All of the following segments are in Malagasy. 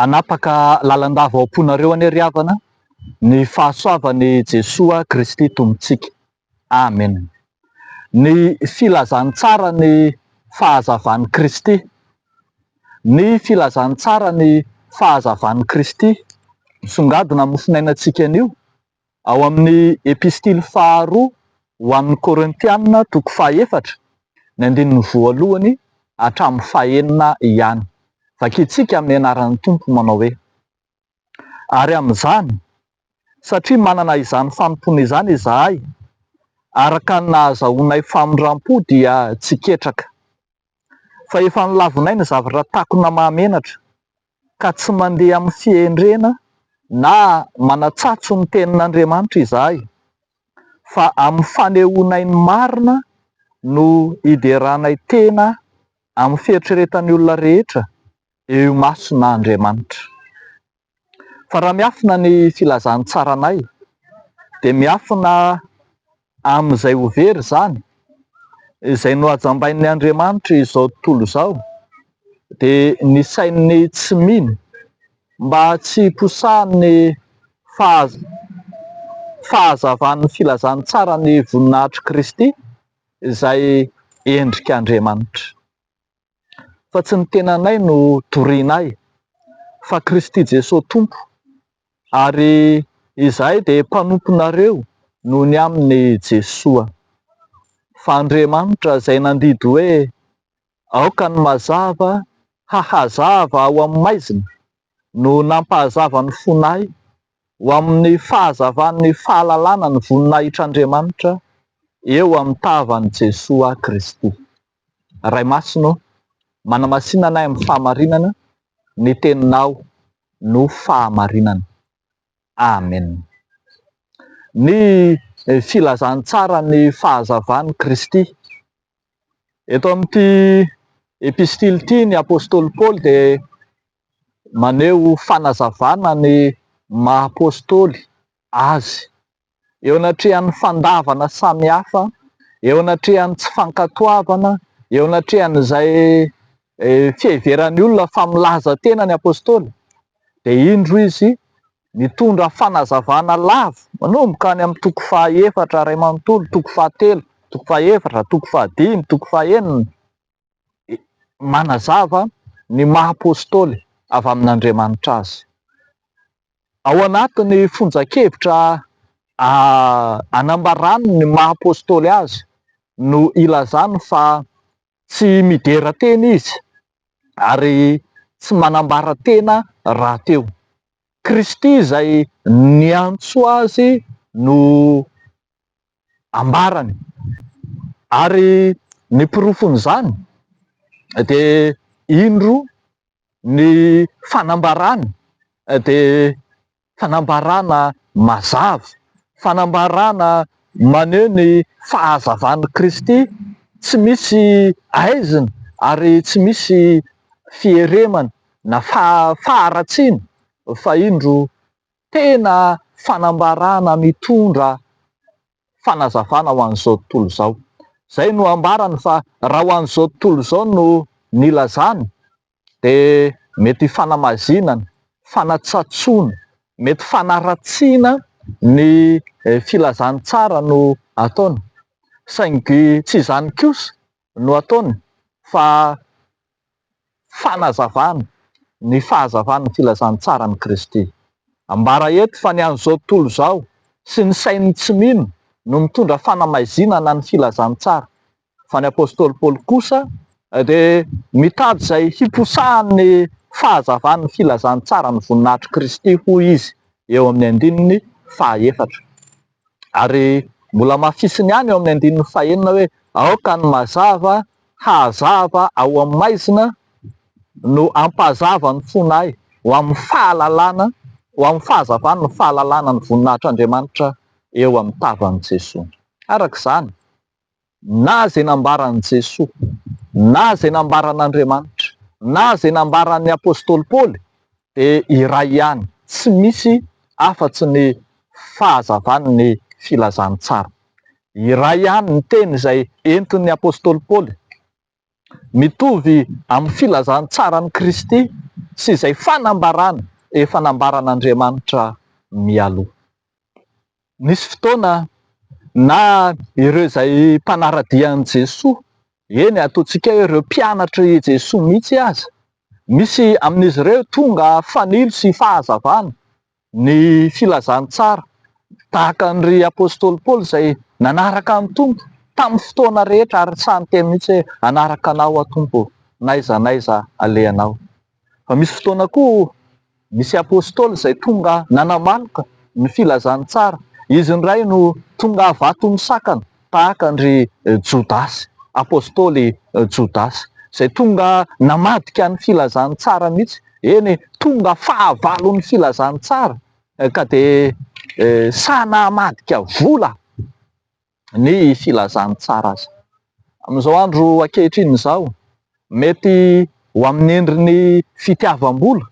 Hanapaka lalandava ao am-ponareo anie ry havana ny fahasoavan'i Jesoa Kristy Tompontsika. Amen. Ny filazantsara ny fahazavan'i Kristy Ny filazantsara ny fahazavan'i Kristy misongadina mofonainantsika anio ao amin'ny Epistily faharoa ho an'ny Korintiana toko fahaefatra, ny andininy voalohany hatramin'ny fahenina ihany. Vakintsika amin'ny anaran'ny Tompo manao hoe. Ary amin'izany, satria manana izany fanompoana izany izahay, araka ny nahazahoanay famindrampo dia tsy ketraka. Fa efa nolavinay ny zavatra takona mahamenatra, ka tsy mandeha amin'ny fihendrena na manatsatso ny Tenin'Andriamanitra izahay, fa amin'ny fanehoanay ny marina no ideranay tena amin'ny fieritreretan'ny olona rehetra, Eo imasona Andriamanitra. Fa raha miafina ny filazantsaranay dia miafina amin'izay ho very izany, izay nohajambain'ny Andriamanitra izao tontolo izao, dia ny sain'ny tsy mino, mba tsy hiposahan'ny fahazavan'ny filazantsara ny voninahitr'i Kristy izay endrik'Andriamanitra. fa tsy ny tenanay no dorianay fa Kristy Jesoa Tompo ary izahay dia mpanomponareo noho ny amin'i Jesoa. Fa Andriamanitra izay nandidy hoe aoka ny mazava hahazava ao amin'ny maizina no nampahazava ny fonay ho amin'ny fahazavan'ny fahalalana ny voninahitr'Andriamanitra eo amin'ny tavan'i Jesoa Kristy. Ray Masina ô, manamasina anay amin'ny fahamarinana, ny Teninao no fahamarinana. Amen. Ny filazantsaran'ny fahazavan'i Kristy. Eto amin'ity epistily ity ny apostoly Paoly dia maneho fanazavana ny maha apostoly azy. eo anatrehan'ny fandavana samihafa, eo anatrehan'ny tsy fankatoavana, eo anatrehan'izay fiheveran'ny olona fa milaza tena ny Apostoly, dia indro izy mitondra fanazavana lava manomboka any amin'ny toko faha efatra iray manontolo, toko fahatelo, toko faha efatra, toko fahadimy, toko faha enina, manazava ny maha Apostoly avy amin'Andriamanitra azy. Ao anatin'ny fonjan-kevitra anambarany ny maha Apostoly azy no ilazany fa tsy midera teny izy ary tsy manambara tena rahateo. Kristy izay niantso azy no. ambarany. Ary ny porofon'izany dia indro ny fanambarana dia fanambarana mazava, fanambarana maneho ny fahazavan'i Kristy tsy misy aizina ary tsy misy fieremana na faharatsiana fa indro Tena fanambarana mitondra fanazavana ho an'izao tontolo izao. Izay no ambarany fa raha ho an'izao tontolo izao no nilazany dia mety hifanamazinana, fanatsatsoana, mety fanaratsiana ny filazany tsara no ataony. Saingy tsy izany kosa no ataony fa fanazavana ny fahazavan'ny filazantsaran'i Kristy. Ambara eto fa ny an'izao tontolo izao sy ny sain'ny tsy mino no mitondra fanamaizinana ny filazantsara, fa ny apostoly Paoly kosa dia mitady izay hiposahan'ny fahazavan'ny filazantsaran'ny voninahitr'i Kristy, hoy izy eo amin'ny andininy fahaefatra. Ary mbola mafisiny ihany eo amin'ny andininy fahenina hoe, Aoka ny mazava hahazava ao amin'ny maizina no hampahazava ny fonay, ho amin'ny fahalalana, ho amin'ny fahazavan'ny fahalalana ny voninahitr'Andriamanitra eo amin'ny tavan'i Jesoa. Araka izany, na izay nambaran'i Jesoa, na izay nambaran'Andriamanitra, na izay nambaran'ny apostoly Paoly dia iray ihany, tsy misy afatsy ny fahazavan'ny filazantsara. Iray ihany ny teny izay entin'ny apostoly Paoly mitovy amin'ny filazantsaran'i Kristy sy izay fanambarana efa nambaran'Andriamanitra mialoha. Nisy fotoana na ireo izay mpanara-dia an'i Jesoa, eny ataontsika hoe ireo mpianatr'i Jesoa mihitsy aza, misy amin'izy ireo tonga fanilo sy fahazavana Ny filazantsara, tahaka ny ry apostoly Paoly izay nanaraka an'i Tompo tamin'ny fotoana rehetra ary sahy niteny mihitsy hoe hanaraka anao aho Tompo n'aiza n'aiza alehanao. Fa misy fotoana koa nisy apostoly izay tonga nanamaloka ny filazantsara, izy indray no tonga vato misakana. tahaka an-dry Jodasy, Apostoly Jodasy, izay tonga namadika ny Filazantsara mihitsy, eny tonga fahavalon'ny Filazantsara ka dia sahy namadika vola ny Filazantsara aza. Amin'izao andro ankehitriny izao, mety ho amin'ny endriny fitiavam-bola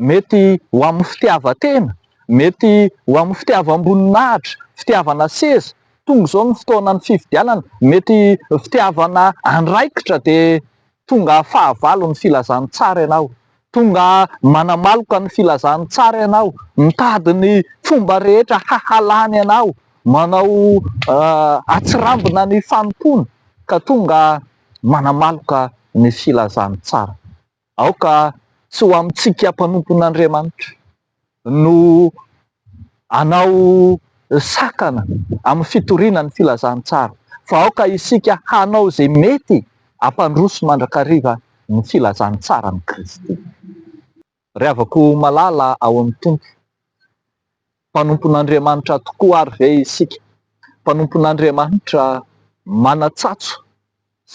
Mety ho amin'ny fitiavan-tena, mety ho amin'ny fitiavam-boninahitra, fitiavana seza, tonga izao ny fotoanan'ny fifidianana, mety fitiavana andraikitra dia tonga fahavalo ny filazan'ny tsara ianao, tonga manamaloka ny filazan'ny tsara ianao, mitady ny fomba rehetra hahalany anao, manao atsirambina ny fanompoana ka tonga manamaloka ny filazan'ny tsara. Aoka tsy ho amintsika mpanompon'Andriamanitra no hanao sakana amin'ny fitoriana ny filazantsara, fa aoka isika hanao izay mety hampandroso mandrakariva ny filazantsaran'i Kristy. Ry havako malala ao amin'ny Tompo. Mpanompon'Andriamanitra tokoa àry ve isika? Mpanompon'Andriamanitra manan-tsatso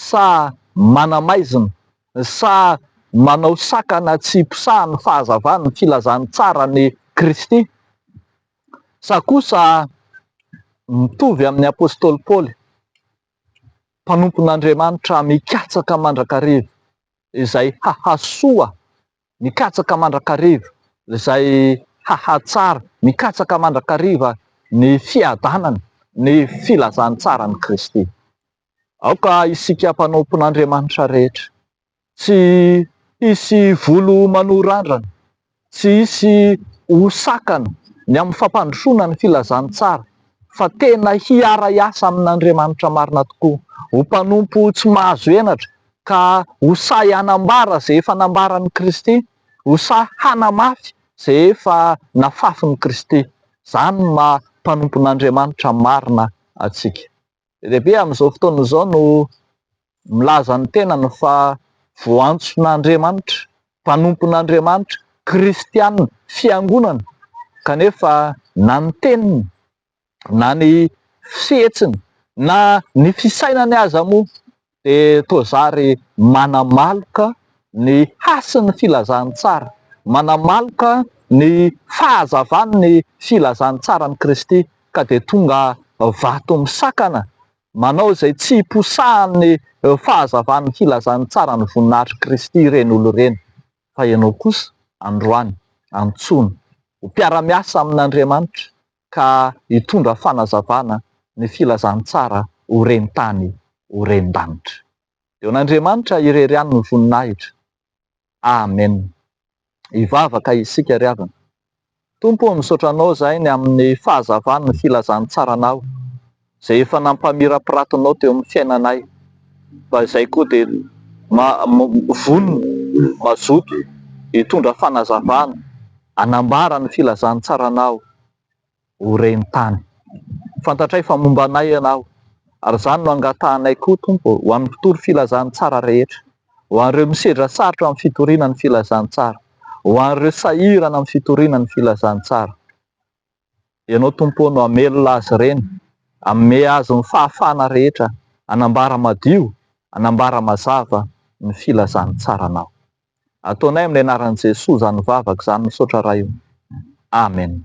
sa manamaizina, sa manao sakana tsy posahan'ny fahazavan'ny filazan'ny tsaran'i Kristy, sa kosa mitovy amin'ny apostoly Paoly, mpanompon'Andriamanitra mikatsaka mandrakariva izay hahasoa Ny katsaka mandrakariva izay hahatsara ny katsaka mandrakariva ny fiadanana, ny filazantsaran'i Kristy. Aoka isika mpanompon'Andriamanitra rehetra tsy hisy volo manohy randrana, tsy hisy ho sakana ny amin'ny fampandrosoana ny filazantsara fa tena hiara-hiasa amin'Andriamanitra marina tokoa, ho mpanompo tsy mahazo henatra Ka ho sahy hanambara izay efa nambaran'i Kristy, ho sahy hanamafy izay efa nafafin'i Kristy. Izany no maha mpanompon'Andriamanitra marina antsika. Be dia be amin'izao fotoana izao no milaza ny tenany fa voantson'Andriamanitra, mpanompon'Andriamanitra, kristiana, fiangonana, kanefa na ny teniny na ny fihetsiny na ny fisainany aza moa dia toa zary manamaloka ny hasin'ny filazan'ny tsara, manamaloka ny fahazavan'ny filazan'ny tsaran'i Kristy ka dia tonga vato misakana, manao izay tsy hiposahan'ny fahazavan'ny filazan'ny tsaran'ny voninahitr'i Kristy ireny olona ireny. Fa ianao kosa, androany, antsoina ho mpiara-miasa amin'Andriamanitra ka hitondra fanazavana ny filazantsara ho ren-tany, ho ren-danitra. Eo an'Andriamanitra irery ihany ny voninahitra. Amen. Hivavaka isika ry havana Tompo ô misaotra anao zahay ny amin'ny fahazavany ny filazantsaranao izay efa nampamirapiratinao teo amin'ny fiainanay fa izay koa dia vonona mazoto hitondra fanazavana hanambara ny filazantsaranao ho ren-tany. Fantatray fa momba anay Ianao, ary izany no angatahanay koa, Tompo, ho an'ny mpitory filazantsara rehetra, ho an'ireo misedra sarotra amin'ny fitoriana ny filazantsara, ho an'ireo sahirana amin'ny fitoriana ny filazantsara. Ianao, Tompo ô, no hamelona azy ireny, hanome azy ny fahafahana rehetra hanambara madio, hanambara mazava ny filazantsaranao. Ataonay amin'ny anaran'i Jesoa izany vavaka izany, misaotra Ray ô. Amen.